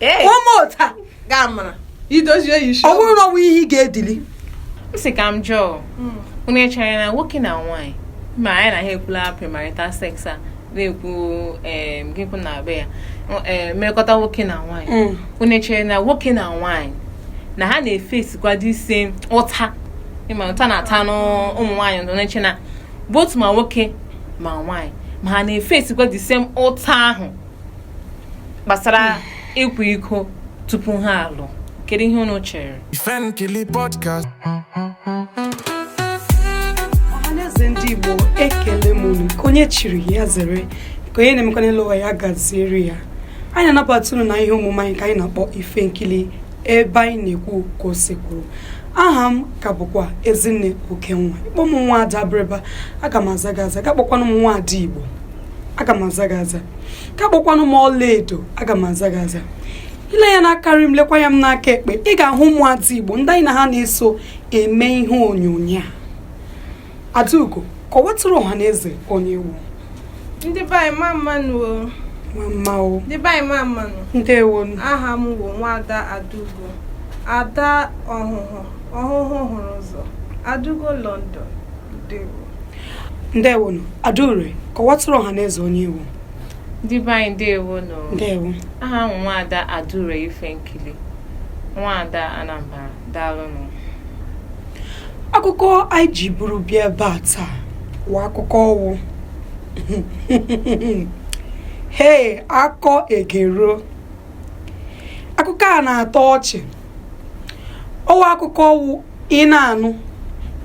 Ee, ụmụ ụta gaa mara idozie ya isi ọ bụrụ na ọ wụ ihe ị ga-edili m sị ka m jụọ unu echere na nwoke na nwaanyị ma anyị na ha ekwula premarital sex a na-ekwu em, gị kwụ na be ya em, mmekọta nwoke na nwaanyị Mm. unu echere na nwoke na nwaanyị na ha na-efesikwa the same ụta ị ma ụta a na-ata ụmụ nwaanyị unu na-eche na both ma nwoke ma nwaanyị ma ha na-efesikwa the same ụta ahụ gbasara ịkwa iko tupu ha alụ kedu ihe unu chere ọhaneze ndị Igbo ekele m unu nke onye chiri ya zere nke onye na-emekwa n'elu ụwa ya gaziere ya anyị na-anabata unu na ihe omume anyị nke anyị na-akpọ ifenkili ebe anyị na-ekwu ka o si kwuru aha m ka bụkwa ezinne okenwa ị kpọọ m nwa ada abịrịba aga m aza gị aza ga kpọkwanụ m nwa ada igbo aga m aza gị aza ka kpọkwanụ m ọlaedo aga m aza gị aza i lee anya n'aka nri m lekwa anya m n'aka ekpe ị ga-ahụ ụmụada igbo ndị anyị na ha na-eso eme ihe onyonyo a adaugo kọwatụrụ ọha na eze onye ị wụ ndị be anyị mma mma nụ o mma mma o ndị be anyị mma mma nụ ndewo aha m bụ nwada adaugo ada ọhụhụ ọhụhụ hụrụ ụzọ adaugo london ndewo ndewonu adaure kọwatụrụ ọha na eze onye ị wụ ndị be anyị ndewonu ndewo aha m wụ nwaada adaure ifenkili nwaada anambra daalụnụ akụkọ anyị ji buru bịa ebe a taa wụ akụkọ ọ wụ hei akọ egero akụkọ a na-atọ ọchị ọ wụ akụkọ ọ wụ ị na-anụ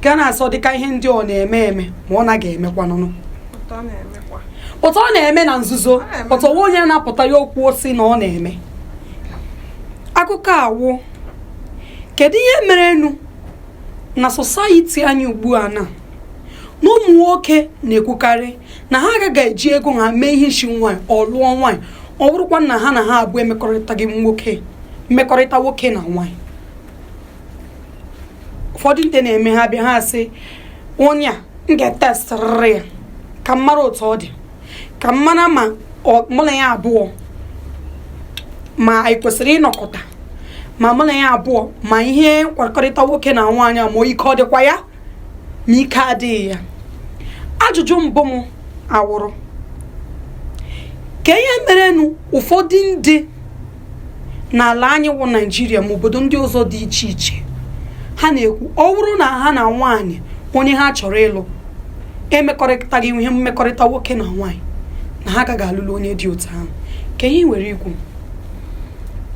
gị na-asị ọ dịka ihe ndị ọ na-eme eme ma ọ naghị emekwanụnụ but ọ na-emekwa. but ọ na-eme na nzuzo na-eme. but o nwe onye na-apụta ya ekwuo sị na ọ na-eme akụkọ a wụ kedu ihe merenụ na society anyị ugbu a na na ụmụ nwoke na-ekwukarị na ha agaghị eji ego ha mee ihe isi nwaanyị or lụọ nwaanyị ọ bụrụkwa na ha na ha abụọ emekọrịtaghị nwoke mmekọrịta nwoke na nwaanyị ụfọdụ ndị na-eme ha bịa ha asị onye a m ga-etestịrịrị ya ka m mara otu ọ dị ka m mara ma ọ- mụ na ya abụọ ma anyị kwesịrị ịnọkọta ma mụ na ya abụọ ma ihe nkwakọrịta nwoke na nwaanyị a ma ike ọ dịkwa ya ma ike adịghị ya ajụjụ mbụ m awụrụ kee ihe merenụ ụfọdụ ndị n'ala anyị wụ naijiria ma obodo ndị ọzọ dị iche iche ha na-ekwu ọ bụrụ na ha na nwaanyị onye ha chọrọ ịlụ emekọrịtaghị ihe mmekọrịta nwoke na nwaanyị na ha agaghị alụlụ onye dị otu ahụ kee ihe i nwere ikwu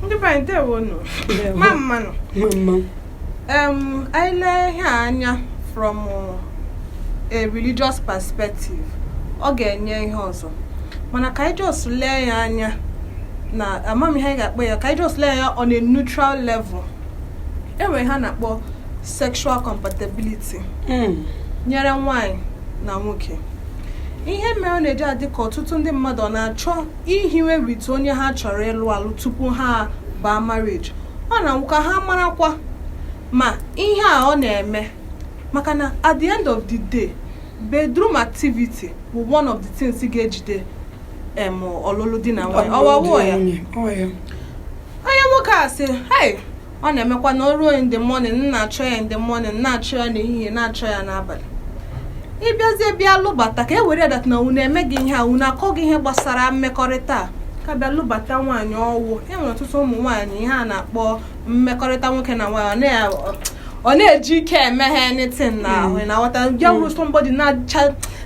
ndị be anyị ndewo nụ mma mmanụ mma mma anyị lee ihe a anya from a religious perspective ọ ga-enye ihe ọzọ mana ka anyị just lee ya anya na amam ihe anyị ga-akpọ ya ka anyị just lee ya on a neutral level e nwere ihe a na-akpọ sexual compatibility hmm. nyere nwanyị na nwoke ihe mere ọ na-eji adị ka ọtụtụ ndị mmadụ ọ na-achọ ihiwe with onye ha chọrọ ịlụ alụ tupu ha baa marriage ọ na-awụ ka ha marakwa ma ihe a ọ na-eme maka na at the end of the day bedroom activity bụ one of the things ga-ejide em ọlụlụ di na nwanyị ọwawo ya onye nwoke a sị hey ọ na-emekwa na o ruo in the morning na-achọ ya in the morning na-achọ ya n'ehihie na-achọ ya n'abalị ị bịazie bịa lụbata ka e were that na unu emeghị ihe a unu akọghị ihe gbasara mmekọrịta a ka bịa lụbata nwaanyị ọ wụ e nwere ọtụtụ ụmụ nwaanyị ihe a na-akpọ mmekọrịta nwoke na nwaanyị ọ na-eji ike eme ha anything na ahụ ị na-aghọta bịa wụrụ somebody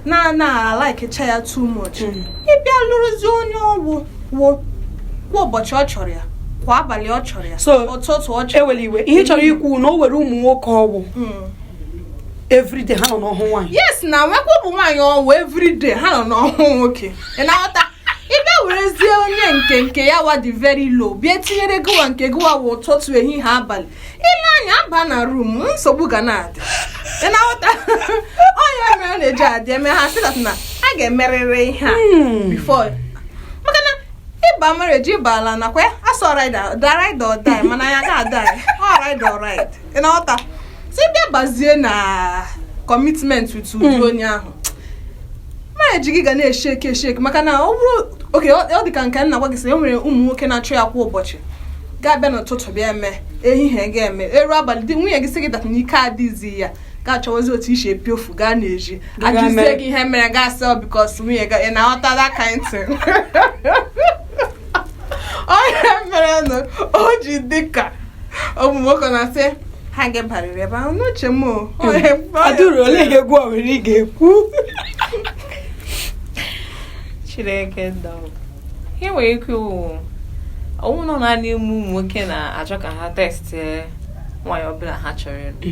na-alaikecha ya too much mm. ị bịa lụrụzie onye ọ wụ wo kwa ụbọchị ọ chọrọ ya kwa abalị ọ chọrọ ya ụtụtụ ọ chọrọ ewere iwe ihe m chọrọ ikwu na o nwere ụmụ nwoke ọ wụ hmm. everyday ha nọ n'ọhụ nwaanyị yes na nwekwa ụmụ nwaanyị ọ wụ everyday ha nọ n'ọhụ nwoke ị na-aghọta ị bịa werezie onye nke nke ya wa dị very low bịa tinyere gịwa nke gịwa wụ ụtụtụ ehihie abalị ị lee anya aba na room nsogbu ga na-adị ị na-aghọta ọ ihe mere na-eji adị eme ha sị that na a ga-emerịrị ihe a hmm. before maka na ị baa marriage ị baala nakwa ya a sị ọ ride or die mana ya ga-adị ọ ride or ride ị na-aghọta so ị bịa bazie na commitment with ụdị hmm. onye ahụ marriage gị ga na-esheki esheki maka na ọ bụrụ okay ọ dị ka nke m na-agwa gị sị e nwere ụmụ nwoke na-achọ ya kwa ụbọchị ga-abịa n'ụtụtụ bịa eme ehihie ga-eme eru abalị dị nwunye gị sị gị that na ike adịghịzi ya gị achọwazi otu i si epiofu gaa n'ezi a jụzie gị ihe mere gị asị ọ because nwunye gị ị na-aghọta that kind thing ọ ihe merenụ o ji dịka ụmụ nwoke na-asị ha ga-abarịrị ebe ahụ n'uche m o adụrụ olee ihe gịwa nwere ị ga-ekwu chineke dọọ ihe m nwere ikwu ọ wụnụ naanị ụmụ nwoke na-achọ ka ha test nwaanyị ọbụla ha chọrọ ịlụ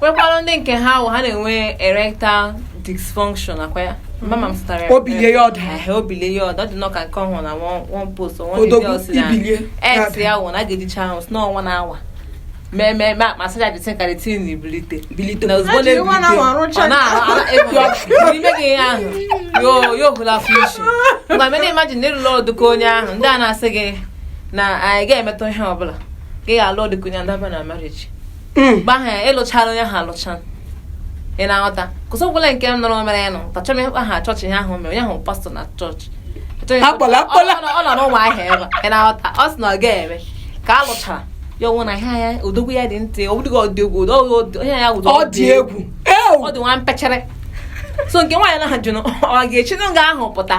nwekwara ndị nke ha ahụ ha na-enwe erectile dysfunction akwa ya mama m zụtara ya obilie ya ọda ehe obilie ya ọda ọ dịnụ ka nke m hụrụ na one one post nwa ndị Odogwu ọ sị na ibilie. ex ya wụ na a ga-edicha ahụ si n'ọnwa na awa mee mee ma ma saja dịtị ka dịtị na ibilite bilite na ozugbo Ha jiri nwa na-ebilite nwa rụcha ọ na-ahụ ala ego n'ime gị ihe ahụ yo yo hụla fishi ngwa mena imagine na ị lụla ọdịka onye ahụ ndị a na-asị gị na anyị ga-emetụ ihe ọbụla gị ga-alụ ọdịka onye ndaba na marriage hmm. mgbe ahụ ya ị lụchara onye ahụ alụcha ị na-aghọta 'cause ọbụla nke m nụrụ mere ya nọ tachọm aha chọọchị ihe ahụ mere onye ahụ pastọ na chọọchị ọ nọ n'Ụmụahịa ebe ị na-aghọta ọ sị na ọ ga-eme ka a lụchara ya ọ wụ na ihe ya odogwu ya dị ntị ọ bụdịghị odogwu onye ya wụdọ ọ dị egwu ọ dị nwa mpechere so nke nwaanyị na-ajụ na ọ ga-eshi nga ahụ pụta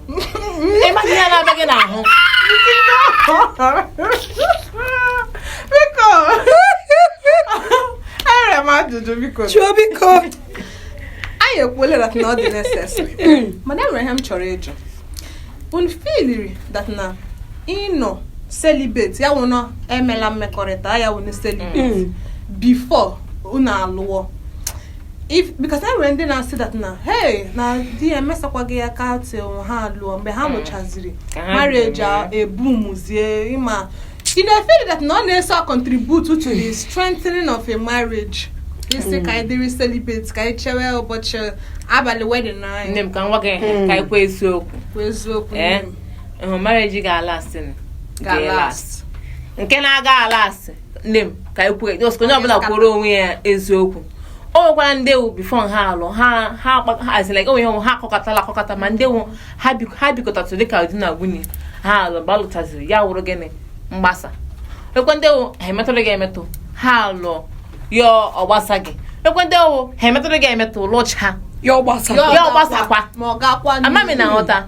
ị maghị ihe na-abịa gị n'ahụ biko enwere m ajụjụ biko chụọ biko anyị ekwuola that na ọ dị necessary mana enwere ihe m chọrọ ịjụ unu feeliri that na ịnọ celibate ya wụ unu emela mmekọrịta ya wụ ịnọ celibate before unu alụọ if because e nwere ndị na-asị that na hey na di ya emesakwaghị ya aka till ha lụọ mgbe ha lụchaziri Ka ha marriage a bidoro. ebumuzie ịma ị na-efeel that na ọ na-eso a contribute to the strengthening of a marriage ị sị ka anyị dịrị celibate ka anyị chewe ụbọchị abalị wedding nne anyị m ka nwa gị Mm. ka i kwuo eziokwu bụ eziokwu ee nne m. ị hụ marriage ga-alast ga-alast nke na-aga alast nne m ka anyị kwuo just ka onye ọbụla kwuoro onwe ya eziokwu o nwekwara ndị ọ wụ before ha alụ ha ha azila onwe ha ha akọkọtala akọkọta ma ndị ọ wụ ha bikọtatụ dịka di na nwunye ha alụ mgbe alụtaziri ya awụrụ gịnị mgbasa ekwe ndị ọ wụ ha emetụrụghị emetụ ha alụ ya ọ gbasaghị ekwe ndị ọ wụ ha emetụrụghị emetụ lụcha ya ọ gbasakwa ama m ị na-aghọta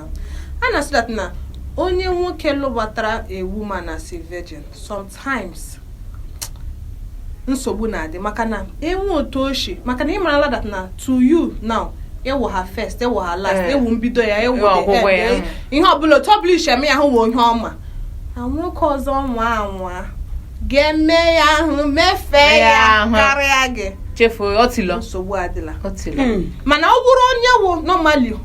a na-asị that na onye nwoke lụbatara a woman as a virgin sometimes nsogbu na-adị maka na e nwe otu o shi maka na ị marala that na to you now ị wụ her first ị wụ her last Eh. ị wụ mbido ya ị wụ Ị wụ the ọgwụgwụ end, ya. eh, ihe ọbụla otu ọbụla i shi eme ya ahụ wụ ihe ọ ma na nwoke ọzọ nwa anwa ga-eme ya ahụ Mee mefee ya ya ahụ. karịa gị chefuo otilo nsogbu adịla otilo mana ọ bụrụ onye wụ normally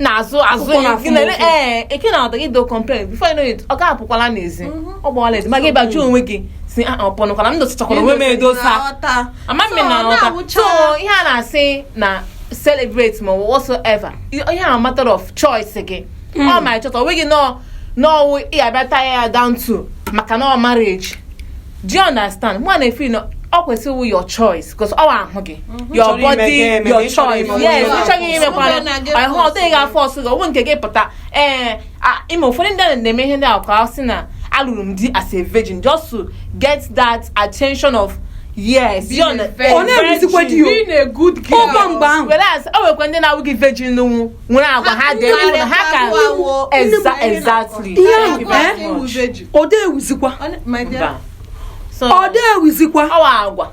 n'azụ azụ Ukwu na-afụ m ụfụ. ee eke na ọdọ gị do complain before you know it ọ ga-apụkwala n'ezi ọ gbawala ezi ma gị bajụ onwe gị sị "Ah, ọ pụnụkwala m dosachakwara onwe m edosa ama m ị na-aghọta so ihe a na-asị na celibate ma ọ bụ whatsoever ihe a matter of choice gị ọ ma chọta onwe gị nọọ n'ọwụ ị abịata ya down to maka na ọ marriage do you understand mụ na-efeel na ọ kwesịrị your choice because ọ ahụ gị mhm. your body your choice yes ịchọghị imekwana ahụ ọ dịghị aforce gị onwe nke gị pụta ee eh, ime ụfọdụ ndị na-eme ihe ndị ahụ ka a sị na alụrụ m di as a virgin just to get that attention of yes being a good girl whereas o nwekwa ndị na-awụghị virgin nwụ nwere agwa ha dị ha ka exactly ọ dị ewuzikwa ọ dị ewuzikwa agwa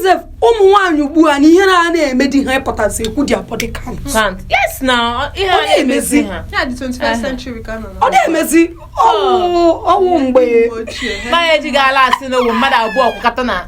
sef ụmụ nwaanyị ugbu a na ihe na a na-eme di ha ịpụtazi ekwu their body count ọ dị emezi ọ dị emezi ọwụ mgbe mmadụ abụọ kwụkọta na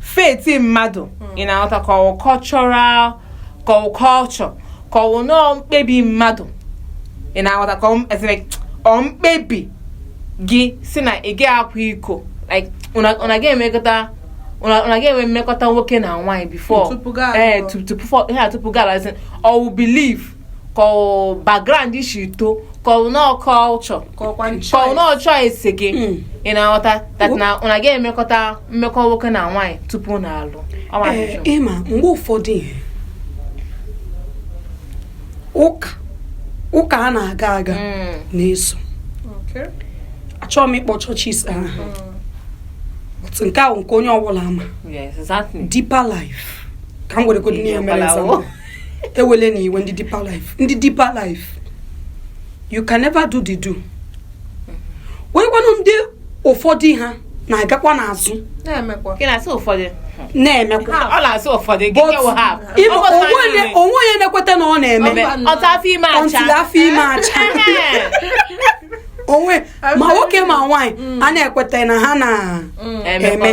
faith mmadụ hmm. ị na-aghọta ka ọwụ cultural ka ọwụ culture ka ọwụ nọọ mkpebi mmadụ ị na-aghọta ka ọ mkpebi gị si na ị ga-akwa iko ụna ga-emekọta ụna ga-enwe mmekọta nwoke na nwaanyị before ee tupu gị alazi ọwụ belief ka ọ background i si too ka ọ nọọ culture ka ọkwa ka ọ nọọ choice gị Mm. ị na-aghọta that na ụna ga-emekọta mmekọ nwoke na nwaanyị tupu ụna alụ Ọ ma Ee, ajụjụ. ịma mgbe ụfọdụ ihe ụka ụka a na-aga aga Mm. na-eso Okay. achọghị m ịkpọ churches aha But nke ahụ nke onye ọbụla ama Yes, exactly. deeper life ka m weregodo Ihe na-emere ọbụla wụ. example. ewele na i wee ndị deeper life ndị deeper life you can never do the do weekwanụ ndị ụfọdụ ha na-agakwa n'azụ na-emekwa Gị na-asị ụfọdụ. na-emekwa Ọ na-asị ụfọdụ gị But nyewe ha. ịma- Ọ bụ onwe onye- naanị o nwe onye na-ekweta na ọ na-eme Mba. until afọ ime acha. until afọ ime acha Ehe. onwe ma nwoke ma nwaanyị a na-ekweta na ha na-eme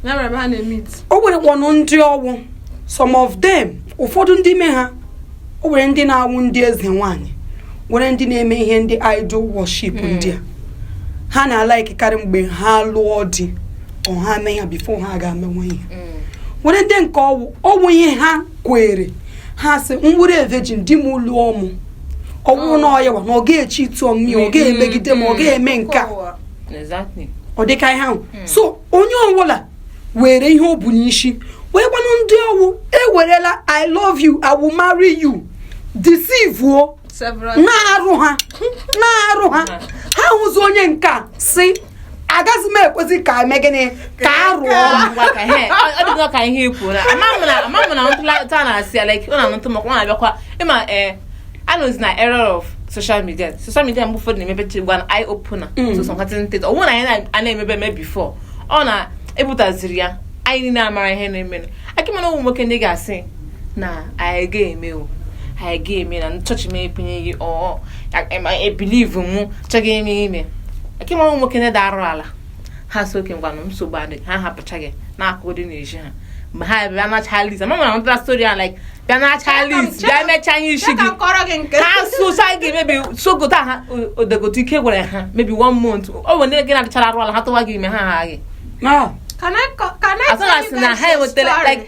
Ya mere ebe ha na-emit. o nwerekwanụ ndị ọwụ some of them ụfọdụ ndị ime ha o nwere ndị na-awụ ndị eze nwaanyị nwere ndị na-eme ihe ndị idol worship ndị a ha na-alikekarị mgbe ha lụọ di ọ ha mee ya before ha ga-emenwe ihe nwere ndị nke ọwụ ọwụ ihe ha kwere ha sị m wụrụ virgin di m lụọ mụ ọwụ na ọ yawa na ọ ga-echi itu ọmụmụ ọ ga-emegide ma ọ ga-eme nke a ọ dịka ihe ahụ hmm. so onye ọbụla were ihe o bu n'isi weekwanụ ndị ọwụ ewerela i love you i will marry you deceive o na-arụ ha na-arụ ha ha hụzi onye nke a si agaghị m ekwezi ka eme gịnị ka a rụọ ọ dịgo ka ihe ikwu na ama m na ntụlata na-asị ya like ọ na-anụtụ maka ọ na-abịakwa ịma ee anọzi na era of social media social media mgbe ụfọdụ na-emebe chigwa na eye opener mm. so some certain things ọ wụ na anyị na-emebe eme before ọ na-ebutaziri ya anyị niile amara ihe na-eme akị mana ụmụ nwoke ndị ga-asị na anyị ga-eme o anyị ga-eme na chọọchị m ekwunye gị ọ ebelieve m chọghị ime ime akị mana ụmụ nwoke ndị arụ ala ha sị okay ngwanụ nsogbu adịghị ha hapụcha gị n'akụkụ dị n'ezi ha mgbe ha bịa nacha list ama na unu nụtara story a like bịa nacha list bịa mecha ihe isi gị ha socha gị maybe sogota ha odegote ike gwụrụ ha maybe one month o nwere ndị gị na-adịchara arụ ala ha tụwa gị ime ha ha gị asị na ha enwetara like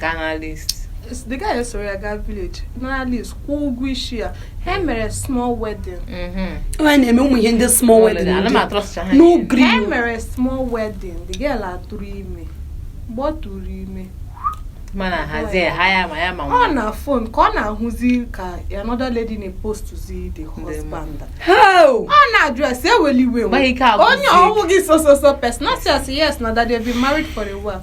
ga nara list. the guy soro ya gaa village nara list kwụọ ụgwọ isi ya ha mere small wedding nwaanyị mhm. na-eme ụmụ ihe ndị small wedding n'ogiri ha mere small wedding the girl atụrụ ime mgbe ọ tụrụ ime mana hazie ha ya ma ya ma ọ na phone ka ọ na-ahụzi ka another lady na-epostuzi the husband ọ na-ajụ ya sị eweli iwe onye ọ wụ gị sososo person ọ sị yes na that they've been married for a while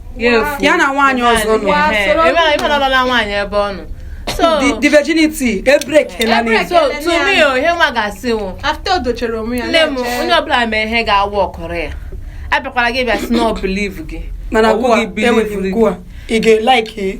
ya na nwaanyị ọzọ nọ the nwaanyị ebe ọ nọ the virginity e break na ni so to me o ihe mụwa ga-asị wụ after odochere onwe ya nne m onye ọbụla mee ihe ga-aworkụrụ ya abịakwara gị bịa sị na ọ believe gị mana gwa enweghị gwa ị ga-elike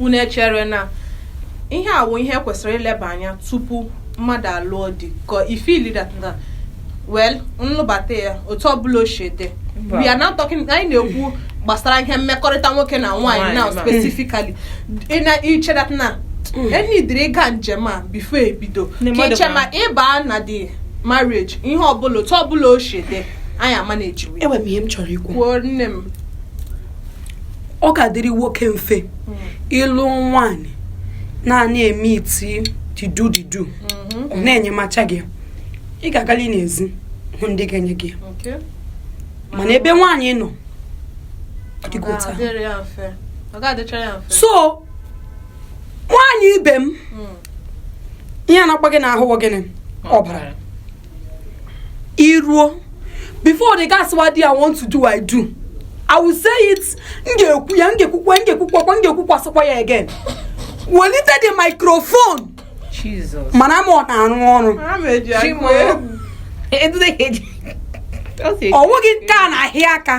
unu echere na ihe a wụ ihe kwesịrị ileba anya tupu mmadụ alụọ di ka ị feeli that na well m lụbata ya otu ọbụla o shi dị we are not talking anyị na-ekwu gbasara ihe mmekọrịta nwoke na nwaanyị Nwaanyị now na- specifically ị na iche that na e needịrị ịga njem a before ebido Ndị ka mmadụ iche ma- ma ịbaa na the marriage ihe ọbụla otu ọbụla o shi dị anyị amanagewe enwere m ihe m chọrọ ikwu kwuo nne m ọ ga-adịrị nwoke mfe ịlụ nwaanyị na-ana eme iti didu didu ọ na-enyemacha gị ya. ị ga-agali n'ezi hụ ndị ga-enye gị ya. Okay. mana ebe nwaanyị nọ ọ dịgo otu ahụ. Ga-adịrị ya mfe. Ọ ga-adịchara ya mfe. so nwaanyị ibe m Mm. ihe na-agba gị n'ahụ wụ gịnị ọbara iruo before the gas wa di i want to do i do i will say it m ga-ekwu ya m ga-ekwukwa m ga-ekwukwakwa m ga-ekwukwasịkwa ya again welite the microphone Jesus. mana ma ọ na-arụ ọrụ Ha ma eji akụ egwu. Edude ka eji. Ọ sị- ọ wụghị nke a na-ahịa aka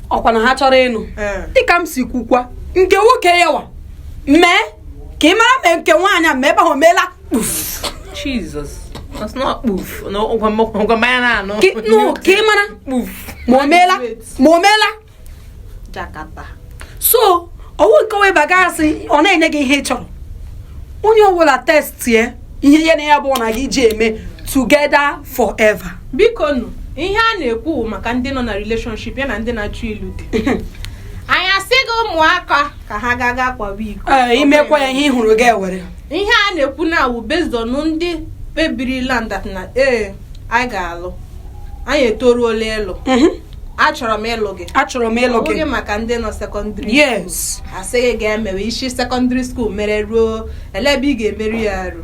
ọkwa na ha chọrọ ịnụ Ee. dịka m si kwukwa nke nwoke yawa mee ka ị mara ma nke nwaanyị a ma ebe ahụ meela kpuf Jesus that's not kpuf na ụgwa m- ụgwa mmanya na-anụ Ka ị- nụ, ka ị mara kpuf ma o meela ma o meela jakata so ọ wụ nke onwe baga asị ọ na-enye gị ihe ị chọrọ onye ọbụla testie ihe ya na ya bụ nwa ga-eji eme together forever biko nụ ihe a na-ekwu wụ maka ndị nọ na relationship ya na ndị na-achọ ịlụ di anyị asịghị ụmụaka ka ha gaa ga kwawa iko Ee, i mekwa ya ihe ị hụrụ gị ewere ihe a na-ekwu na-awụ based on ndị kpebirila that na ee anyị ga-alụ anyị etoruola ịlụ Mhm. achọrọ m ịlụ gị achọrọ m ịlụ ọ wụghị maka ndị nọ secondary yes asịghị ga-emewe i si secondary school mere ruo elee ebe ị ga-emeri ya arụ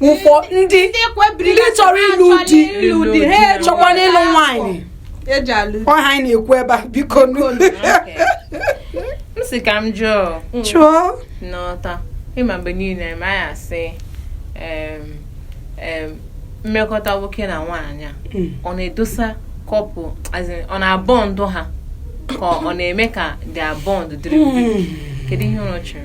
ụfọ ndị ndị kpebiri ndị chọrọ ịlụ di ịlụ di ha eruo chọkwanụ ịlụ n'afọ. nwaanyị e ji alụ ọ ha anyị na-ekwu ebe a biko nụ m sị ka m jụọ chụọ n'ọta ị ma mgbe niile ma ya sị em, em, mmekọta nwoke na nwaanyị a, Mm. ọ na-edọsa couple as in, ọ na-abond ha ka ọ na-eme ka their bond dịrị kedu ihe unu chere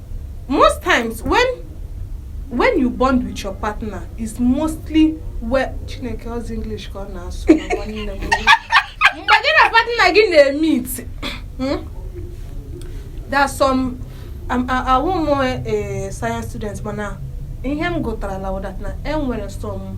most times when when you bond with your partner is mostly where chineke ọzi english ka ọ na-asụ mgbe gị na partner gị na-emeet hmm? there are some um, awụ m eh, science student mana ihe m gụtara na e nwere some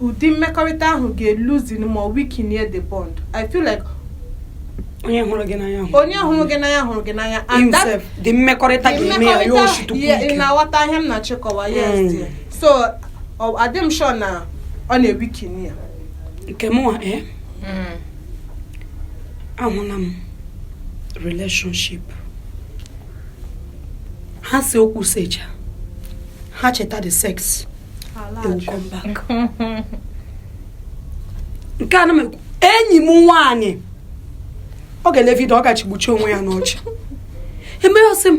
ụdị mmekọrịta ahụ ga-eloosen ma weakenie the bond i feel like onye hụrụ gị n'anya hụrụ onye hụrụ gị n'anya hụrụ gị n'anya and that himself the mmekọrịta the ga-eme ya ya mmekọrịta- oshitukwu yeah, ị ike na-aghọta ihe m na-achọ ịkọwa yes Mm. dear. so ọ- adị m sure na ọ na-eweaken ya nke mụnwa ee Mm. ahụla m relationship ha see okwu secha ha cheta the sex nke a na m enyi m nwaanyị ọ ga-ele video ọ ga-achịgbucha onwe ya n'ọchị e mee ya ọ sị m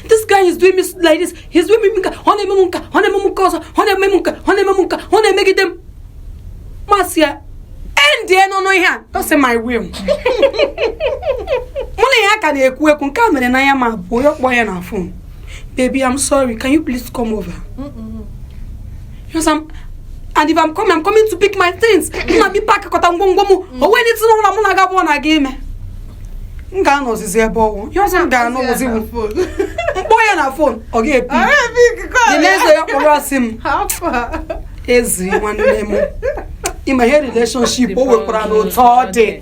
this guy is doing me like this he's doing me nke a ọ na-eme m nke a ọ na-eme m nke ọzọ ọ na-eme m nke a ọ na-eme m nke a ọ na-emegide m m asị ya endienụ ihe a ọ sị m I will mụ na ya ka na-ekwu ekwu nke a mere na ya ma boy a akpọọ ya na phone Baby, I'm sorry. Can you please come over? Mm -mm. Yes, I'm. And if I'm coming, I'm coming to pick my things. M na-abịa ịpackọta ngwongwo m. Mm. O nweghị ihe ọbụla mụ na gị bụ nwa ga-eme. M ga-anọ ozizi ebe ọ wụ. Ihe ọzọ m ga-anụzi bụ m kpọọ ya na phone ọ ga-epick. The next day ya kpọrọ asị m. Ezi nwanne m. Ị ma ihe relationship o nwekwaranụ otu ọ dị.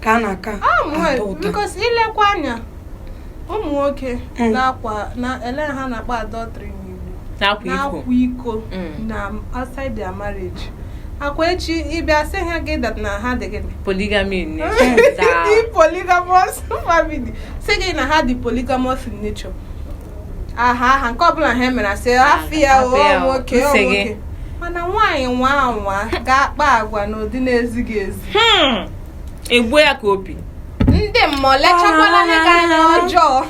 ka a na-aka ata ụta because i lekwa anya ụmụ nwoke Mm. na-akwa na ele ha na-akpa adultery n'igbo na-akwa iko na-akwa iko Mm. na outside their marriage akwa echi ị bịa sị ha gị that na ha dị gịnị polygamy nne ndị polygamous family sị gị na ha dị polygamous in nature aha aha nke ọbụla ha mere asị hafụ ya hafụ ya o, nwoke o nsị gị. nwoke mana nwaanyị nwa anwa ga-akpa agwa n'ụdị na-ezighị ezi Hmm. egbuo ya ka opi ndị mmadụ lechakwala gị anya ọjọọ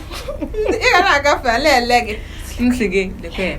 ị ga na-agafe a la-ele gị ntị gị lekwa ya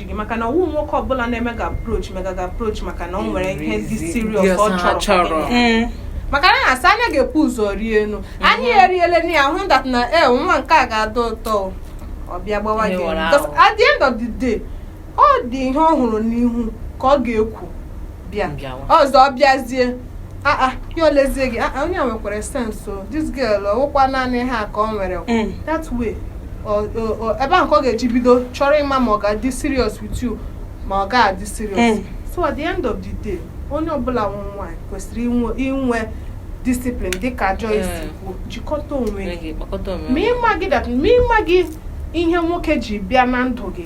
gị maka na ọwụ nwoke ọbụla na-eme gị approach mega gị approach maka na ọ nwere ihe dị serious ọ chọrọ mm. maka na a na-asị anya ga-ebu ụzọ rienụ mm-hmm. anya eriele na ya hụ that na e nwa nke a ga-atọ ụtọ ọ bịa gbawa gị at the end of the day ọ dị ihe ọ hụrụ n'ihu ka ọ ga-ekwu bịa ọzọ ọ bịazie Ah, ah, ya elezie gị ah, onye a nwekwara sense o this girl ọwụkwa naanị ihe a ka ọ nwere mm. that way ebe ahụ ka ọ ga-eji bido chọrọ ịma ma ọ ga-adị serious with you ma ọ ga-adị serious mm. so at the end of the day onye ọbụla wụ nwaanyị kwesịrị inwe discipline dịka Joyce mm. kwuo jikọta onwe gị ma ị maghị ihe nwoke ji bịa na ndụ gị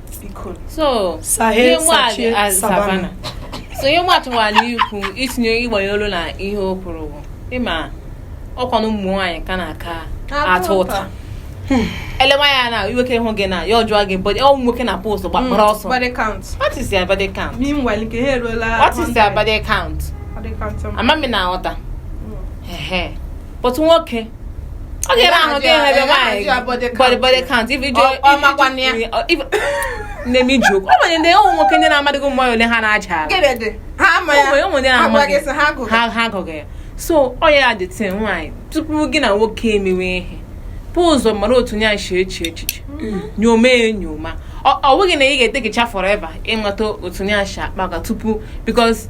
so ihe mmadụ nwere ikwu itinye ịgbanye olu na ihe o kwuru bụ ịma ọkwanụ ụmụ nwaanyị ka a na-aka ata ụta hmm. elewa ya na nwoke hụ gị na ya ọ jụọ gị body ọnwụ nwoke na post gbakpọrọ hmm. ọsọ what is your body count what is your body count ama m ị na-aghọta hmm. but nwoke ọ ga-ebe ahụ ga ebe nwaanyị body body count if you do if na-eme joke ọ nwere ndị ụmụ nwoke ndị na-amadịghị ụmụ ole ha na-aja ha agụghị ya so ọ ya the thing nwaanyị tupu gị na nwoke emewe ihe bu ụzọ mara otu onye shi eche echiche mm. nyoma enyoma ọ bụghị na ị ga-etakecha forever ịmata otu onye shi akpa tupu because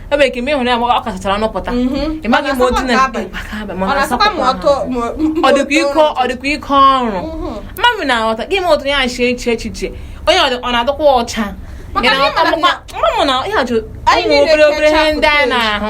ebe ka ime ịhụnanya ọ kachachara nụpụta mhm. ịmaghị m otu na ọ dịkwa ike ọ dịkwa ike ọrụ mhm. mmadụ na-aghọta gị ma otu ya shi eche echiche onye ọ na-adịkwa ọcha mmadụ na ihe obere obere ihe ndị anyị na-ahụ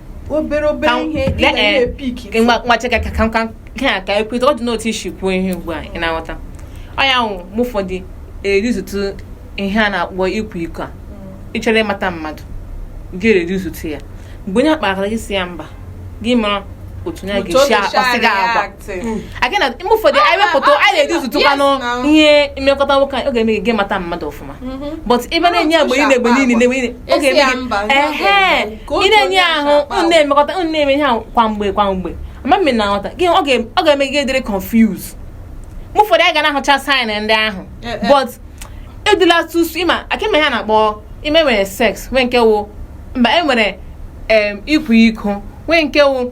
obere obere ihe ị ga na-epick nwachaka ka ka nke a ka ekweta ọ dị n'otu isi kwuo ihe ugbu a ị na-aghọta ọ ya nwụ mgbe ụfọdụ ereducetụ ihe a na-akpọ ịkwa iko a mm. ịchọrọ ịmata mmadụ ga-ereducetụ ya mgbe onye akpara gị sị ya mba gị mara otu onye ga-esi akpaso gị agwa aga na mgbe ụfọdụ anyị wepụta anyị reducetụkwanụ ihe mmekọta nwoke na nwaanyị ọ ga-eme gị mata mmadụ ọfụma mm-hmm. but ebe na-enye mgbe niile mgbe niile ọ ga-eme gị ehe ị na-enye ahụ unu na-emekọta unu na-eme ihe ahụ kwa mgbe kwa mgbe amamihe na nghọta gị ọ ga-eme gị dịrị confused mgbe ụfọdụ anyị ga na-ahụcha sign ndị ahụ eh, eh. but edila tusu ịma akịma ya na-akpọ e nwere sex nwee nke wụ mba e nwere ịkwa iko nwee nke wụ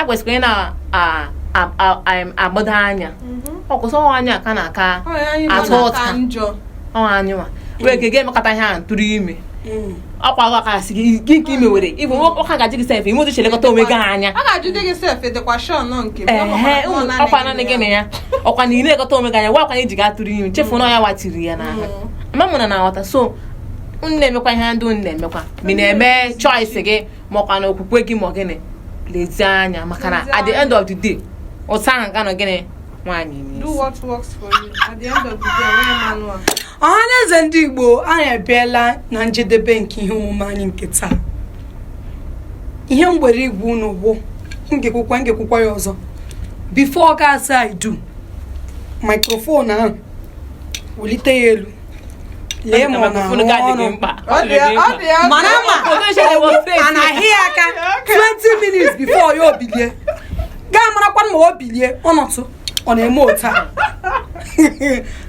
e kwesịkwara ị na-agbado anya mhm. ọ wụ sọ nwaanyị ka a na-aka ata ụta ọ nwaanyị wa wee ka ga-emekọta ihe ahụ tụrụ ime mm. ọ kwa gwa ka sị gị nke ime were ịbụ ọka gaji gị sef i nwee uche lekọta onwe gị anya ọ kwa nanị gị na ya ọ kwa na ị na-elekọta onwe gị anya makwa na ị ga-atụrụ ime chefu na ya watiri ya n'ahụ mm. mma mụ na na-aghọta so m na-emekwa ihe ndị unu na-emekwa ma na-eme choice gị makwa na okwukwe gị ma ọ gịnị lezie anya maka na at the end of the day ụta ahụ ga nọ gịnị nwaanyị ọhaneze ndị igbo anyị abịala na njedebe nke ihe omume anyị nke taa ihe m nwere ịgwa unu bụ m ga-ekwukwa m ga-ekwukwa ya ọzọ before ị ga-asị I do microphone ahụ wulite ya elu lee ma ọ na-arụ ọrụ mara ma a na-ahịa ya aka 20 minutes before ya ebilie gaa marakwa ma o bilie ọ nọtụ ọ na-eme otu a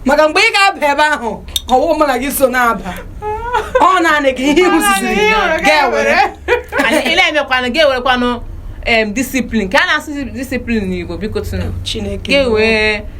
maka mgbe ị ga-aba ebe ahụ ọ wụ mụ na gị so na-aba ọ naanị gị ihe ị hụziri ị ga-ewere ile emekwanụ ga-enwekwanụ discipline ka a na-asụ discipline n'Igbo bikotụnụ Chineke ga-ewee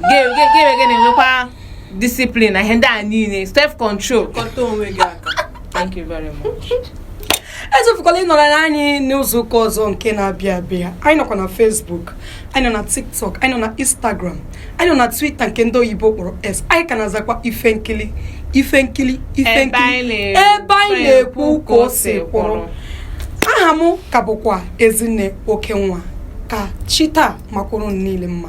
ga-eme nwekwa discipline na ihe ndị a niile self control kọta onwe gị aka thank you very much echefukwala ịnọrọ anyị n'izu ụka ọzọ nke na-abịa abịa anyị nọkwa na Facebook anyị nọ na TikTok anyị nọ na Instagram anyị nọ na Twitter nke ndị oyibo kpọrọ X anyị ka na-azakwa Ifenkili Ifenkili Ifenkili ebe anyị na-ekwu ka o si kwụrụ aha m ka bụkwa Ezinne Okenwa ka chi taa makwara unu niile mma